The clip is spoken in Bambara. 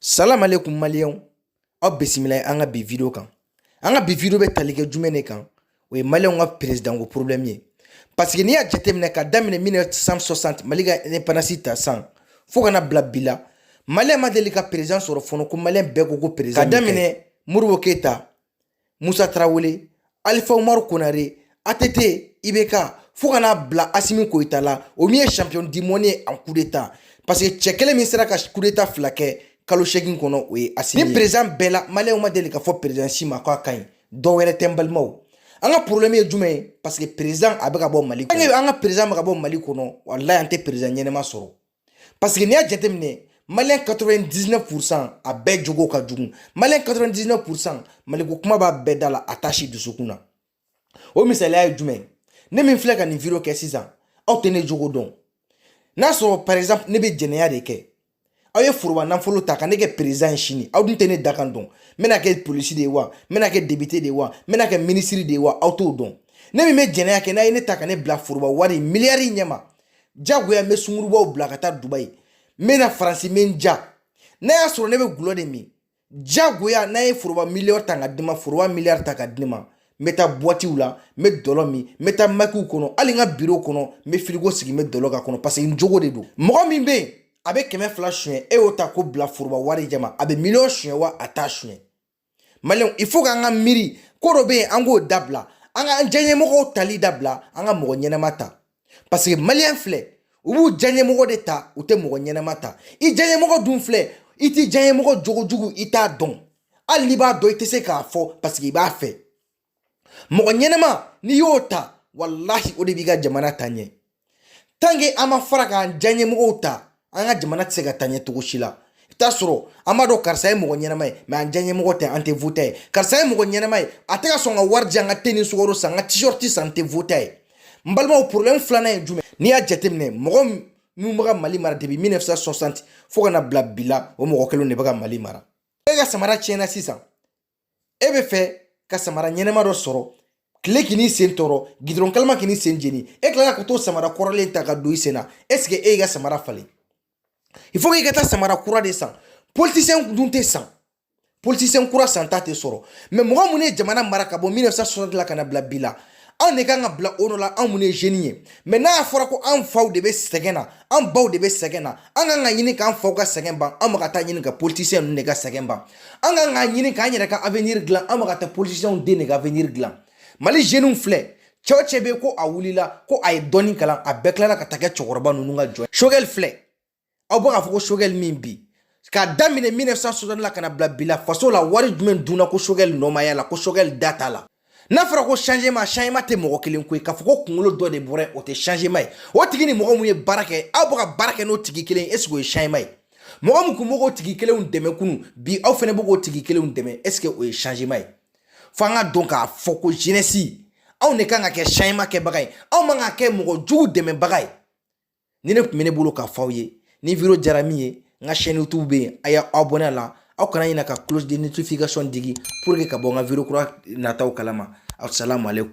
salamalekum maliyɛnw aw bisimila an ka bi video kan an ka bi video bɛ tali kɛ jumɛn de kan o ye maliyɛnw ka perezidanko problɛmu ye parce que n'i y'a jateminɛ ka daminɛ 1960 mali ka independance ta san fo ka na bila bi la maliyɛn ma deli ka perezidan sɔrɔ fɔlɔ ko maliyɛn bɛɛ ko ko perezidan ka daminɛ modibo keyita musa tarawele alifa umaru konare ATT IBK fo ka n'a bila Asimi Koyita la o min ye champion du monde ye en coup d'état parce que cɛ kelen min sera ka coup d'état fila kɛ kalo seegin kɔnɔ o ye Asimi nin président bɛɛ la maliyɛnw ma deli ka fɔ président si ma k'a ka ɲi dɔ wɛrɛ tɛ n balimaw an ka problème ye jumɛn ye parce que président a bɛ ka bɔ mali kɔnɔ an ka président bɛ ka bɔ mali kɔnɔ walayi an tɛ président ɲɛnama sɔrɔ paseke n'i y'a jateminɛ maliyɛn 99 pourcent a bɛɛ jogo ka jugu maliyɛn 99 pourcent maliko kuma b'a bɛɛ da la a t'a si dusukun na o misaliya ye jumɛn ne min filɛ ka nin video kɛ sisan aw tɛ ne jogo dɔn n'a sɔrɔ par exemple ne bɛ jɛnɛya de kɛ aw ye foroba nafolo ta ka ne kɛ perezidan ye sini aw dun tɛ ne dakan dɔn n bɛna kɛ polisi de ye wa n bɛna kɛ depite de ye wa n bɛna kɛ minisiri de ye wa aw t'o dɔn ne min bɛ jɛnɛya kɛ n'aw ye ne ta ka ne bila foroba wari miliyari ɲɛma jagoya n bɛ sungurubaw bila ka taa dubayi n bɛ na faransi n bɛ n ja n'a y'a sɔrɔ ne bɛ gulɔ de min jagoya n'aw ye foroba miliyɔn ta ka di n ma foroba miliyari ta ka di n ma n bɛ taa buwatiw la n bɛ dɔlɔ min n bɛ taa makiw kɔnɔ hali n ka biro kɔnɔ n bɛ firigo sigi n bɛ dɔlɔ k'a kɔnɔ paseke n jogo de don mɔgɔ min bɛ yen a bɛ kɛmɛ fila suɲɛ e y'o ta k'o bila foroba wari ɲɛma a bɛ miliyɔn suɲɛ wa a t'a suɲɛ maliyɛnw il faut k'an ka miiri ko dɔ bɛ yen an k'o dabila an ka an diyaɲɛmɔgɔw tali dabila an ka mɔgɔ ɲɛnama ta parce que maliyɛn filɛ u b'u diyaɲɛmɔgɔ de ta u tɛ mɔgɔ ɲɛnama ta i diyaɲɛmɔgɔ dun filɛ i t'i diyaɲɛmɔgɔ jogo jugu i t'a dɔn hali n'i b'a dɔn i tɛ se k'a fɔ parce que i b'a fɛ mɔgɔ ɲɛnama n'i y'o ta walahi o de b'i ka jamana taa ɲɛ tanke an ma fara k'an diyaɲɛmɔgɔw ta an ka jamana tɛ se ka taa ɲɛ cogo si la i t'a sɔrɔ an b'a dɔn karisa ye mɔgɔ ɲɛnama ye mɛ an diyaɲɛmɔgɔ tɛ an tɛ vot'a ye karisa ye mɔgɔ ɲɛnama ye a tɛ ka sɔn ka wari di an ka te ni sukaro san ka t-shirt san n tɛ vot'a ye n balimaw problème filanan ye jumɛn n'i y'a jateminɛ mɔgɔ minnu bɛ ka mali mara depuis 1960 fo ka na bila bi la o mɔgɔ kelen de bɛ ka mali mara e ka samara tiɲɛna sisan e bɛ fɛ ka samara ɲɛnama dɔ sɔrɔ kile kan'i sen tɔɔrɔ gidɔrɔn kalama kan'i sen jeni e tilala ka t'o samara kɔrɔlen ta ka don i sen na ɛseke e y'i ka samara falen il faut k'i ka taa samara kura de san politisiyɛn dun tɛ san politisiyɛn kura santa tɛ sɔrɔ mɛ mɔgɔ minnu ye jamana mara ka bɔ 1960 la ka na bila bi la anw de kan ka bila o nɔ la anw minnu ye zeni ye mɛ n'a fɔra ko anw faw de bɛ sɛgɛn na an baw de bɛ sɛgɛn na an kan k'a ɲini k'an faw ka sɛgɛn ban an ma ka taa ɲini ka politisiyɛn ninnu de ka sɛgɛn ban an kan k'a ɲini k'an yɛrɛ ka avenir dilan an ma ka taa politisiyɛnw den de ka avenir dilan mali zeniw filɛ cɛ o cɛ bɛ ko a wulila ko a ye dɔɔni kalan a bɛɛ tilala ka taa kɛ cɛkɔrɔba ninnu ka jɔn sogɛli filɛ aw bɛ k'a fɔ ko Choguel min bi k'a daminɛ 1960 la ka na bila bi la faso la wari jumɛn dunna ko Choguel nɔ ma y'a la ko Choguel da t'a la n'a fɔra ko changement changement tɛ mɔgɔ kelen ko ye k'a fɔ ko kunkolo dɔ de bɔra o tɛ changement ye o tigi ni mɔgɔ mun ye baara kɛ aw bɛ ka baara kɛ n'o tigi kelen ye est ce que o ye changement ye mɔgɔ min tun bɛ k'o tigi kelenw dɛmɛ kunun bi aw fɛnɛ bɛ k'o tigi kelenw dɛmɛ est ce que o ye changement ye fo an k'a dɔn k'a fɔ ko jeunesse anw de kan ka kɛ changement kɛbaga ye anw man ka kɛ mɔgɔ jugu dɛmɛbaga ye nin de tun bɛ ne bolo k'a fɔ aw ye ni video diyara min ye n ka chaîne youtube bɛ yen a y'a abonné a la aw kana ɲinɛ ka cloche de notification digi pour que ka bɔ n ka video kura nataw kalama asalamu aleykum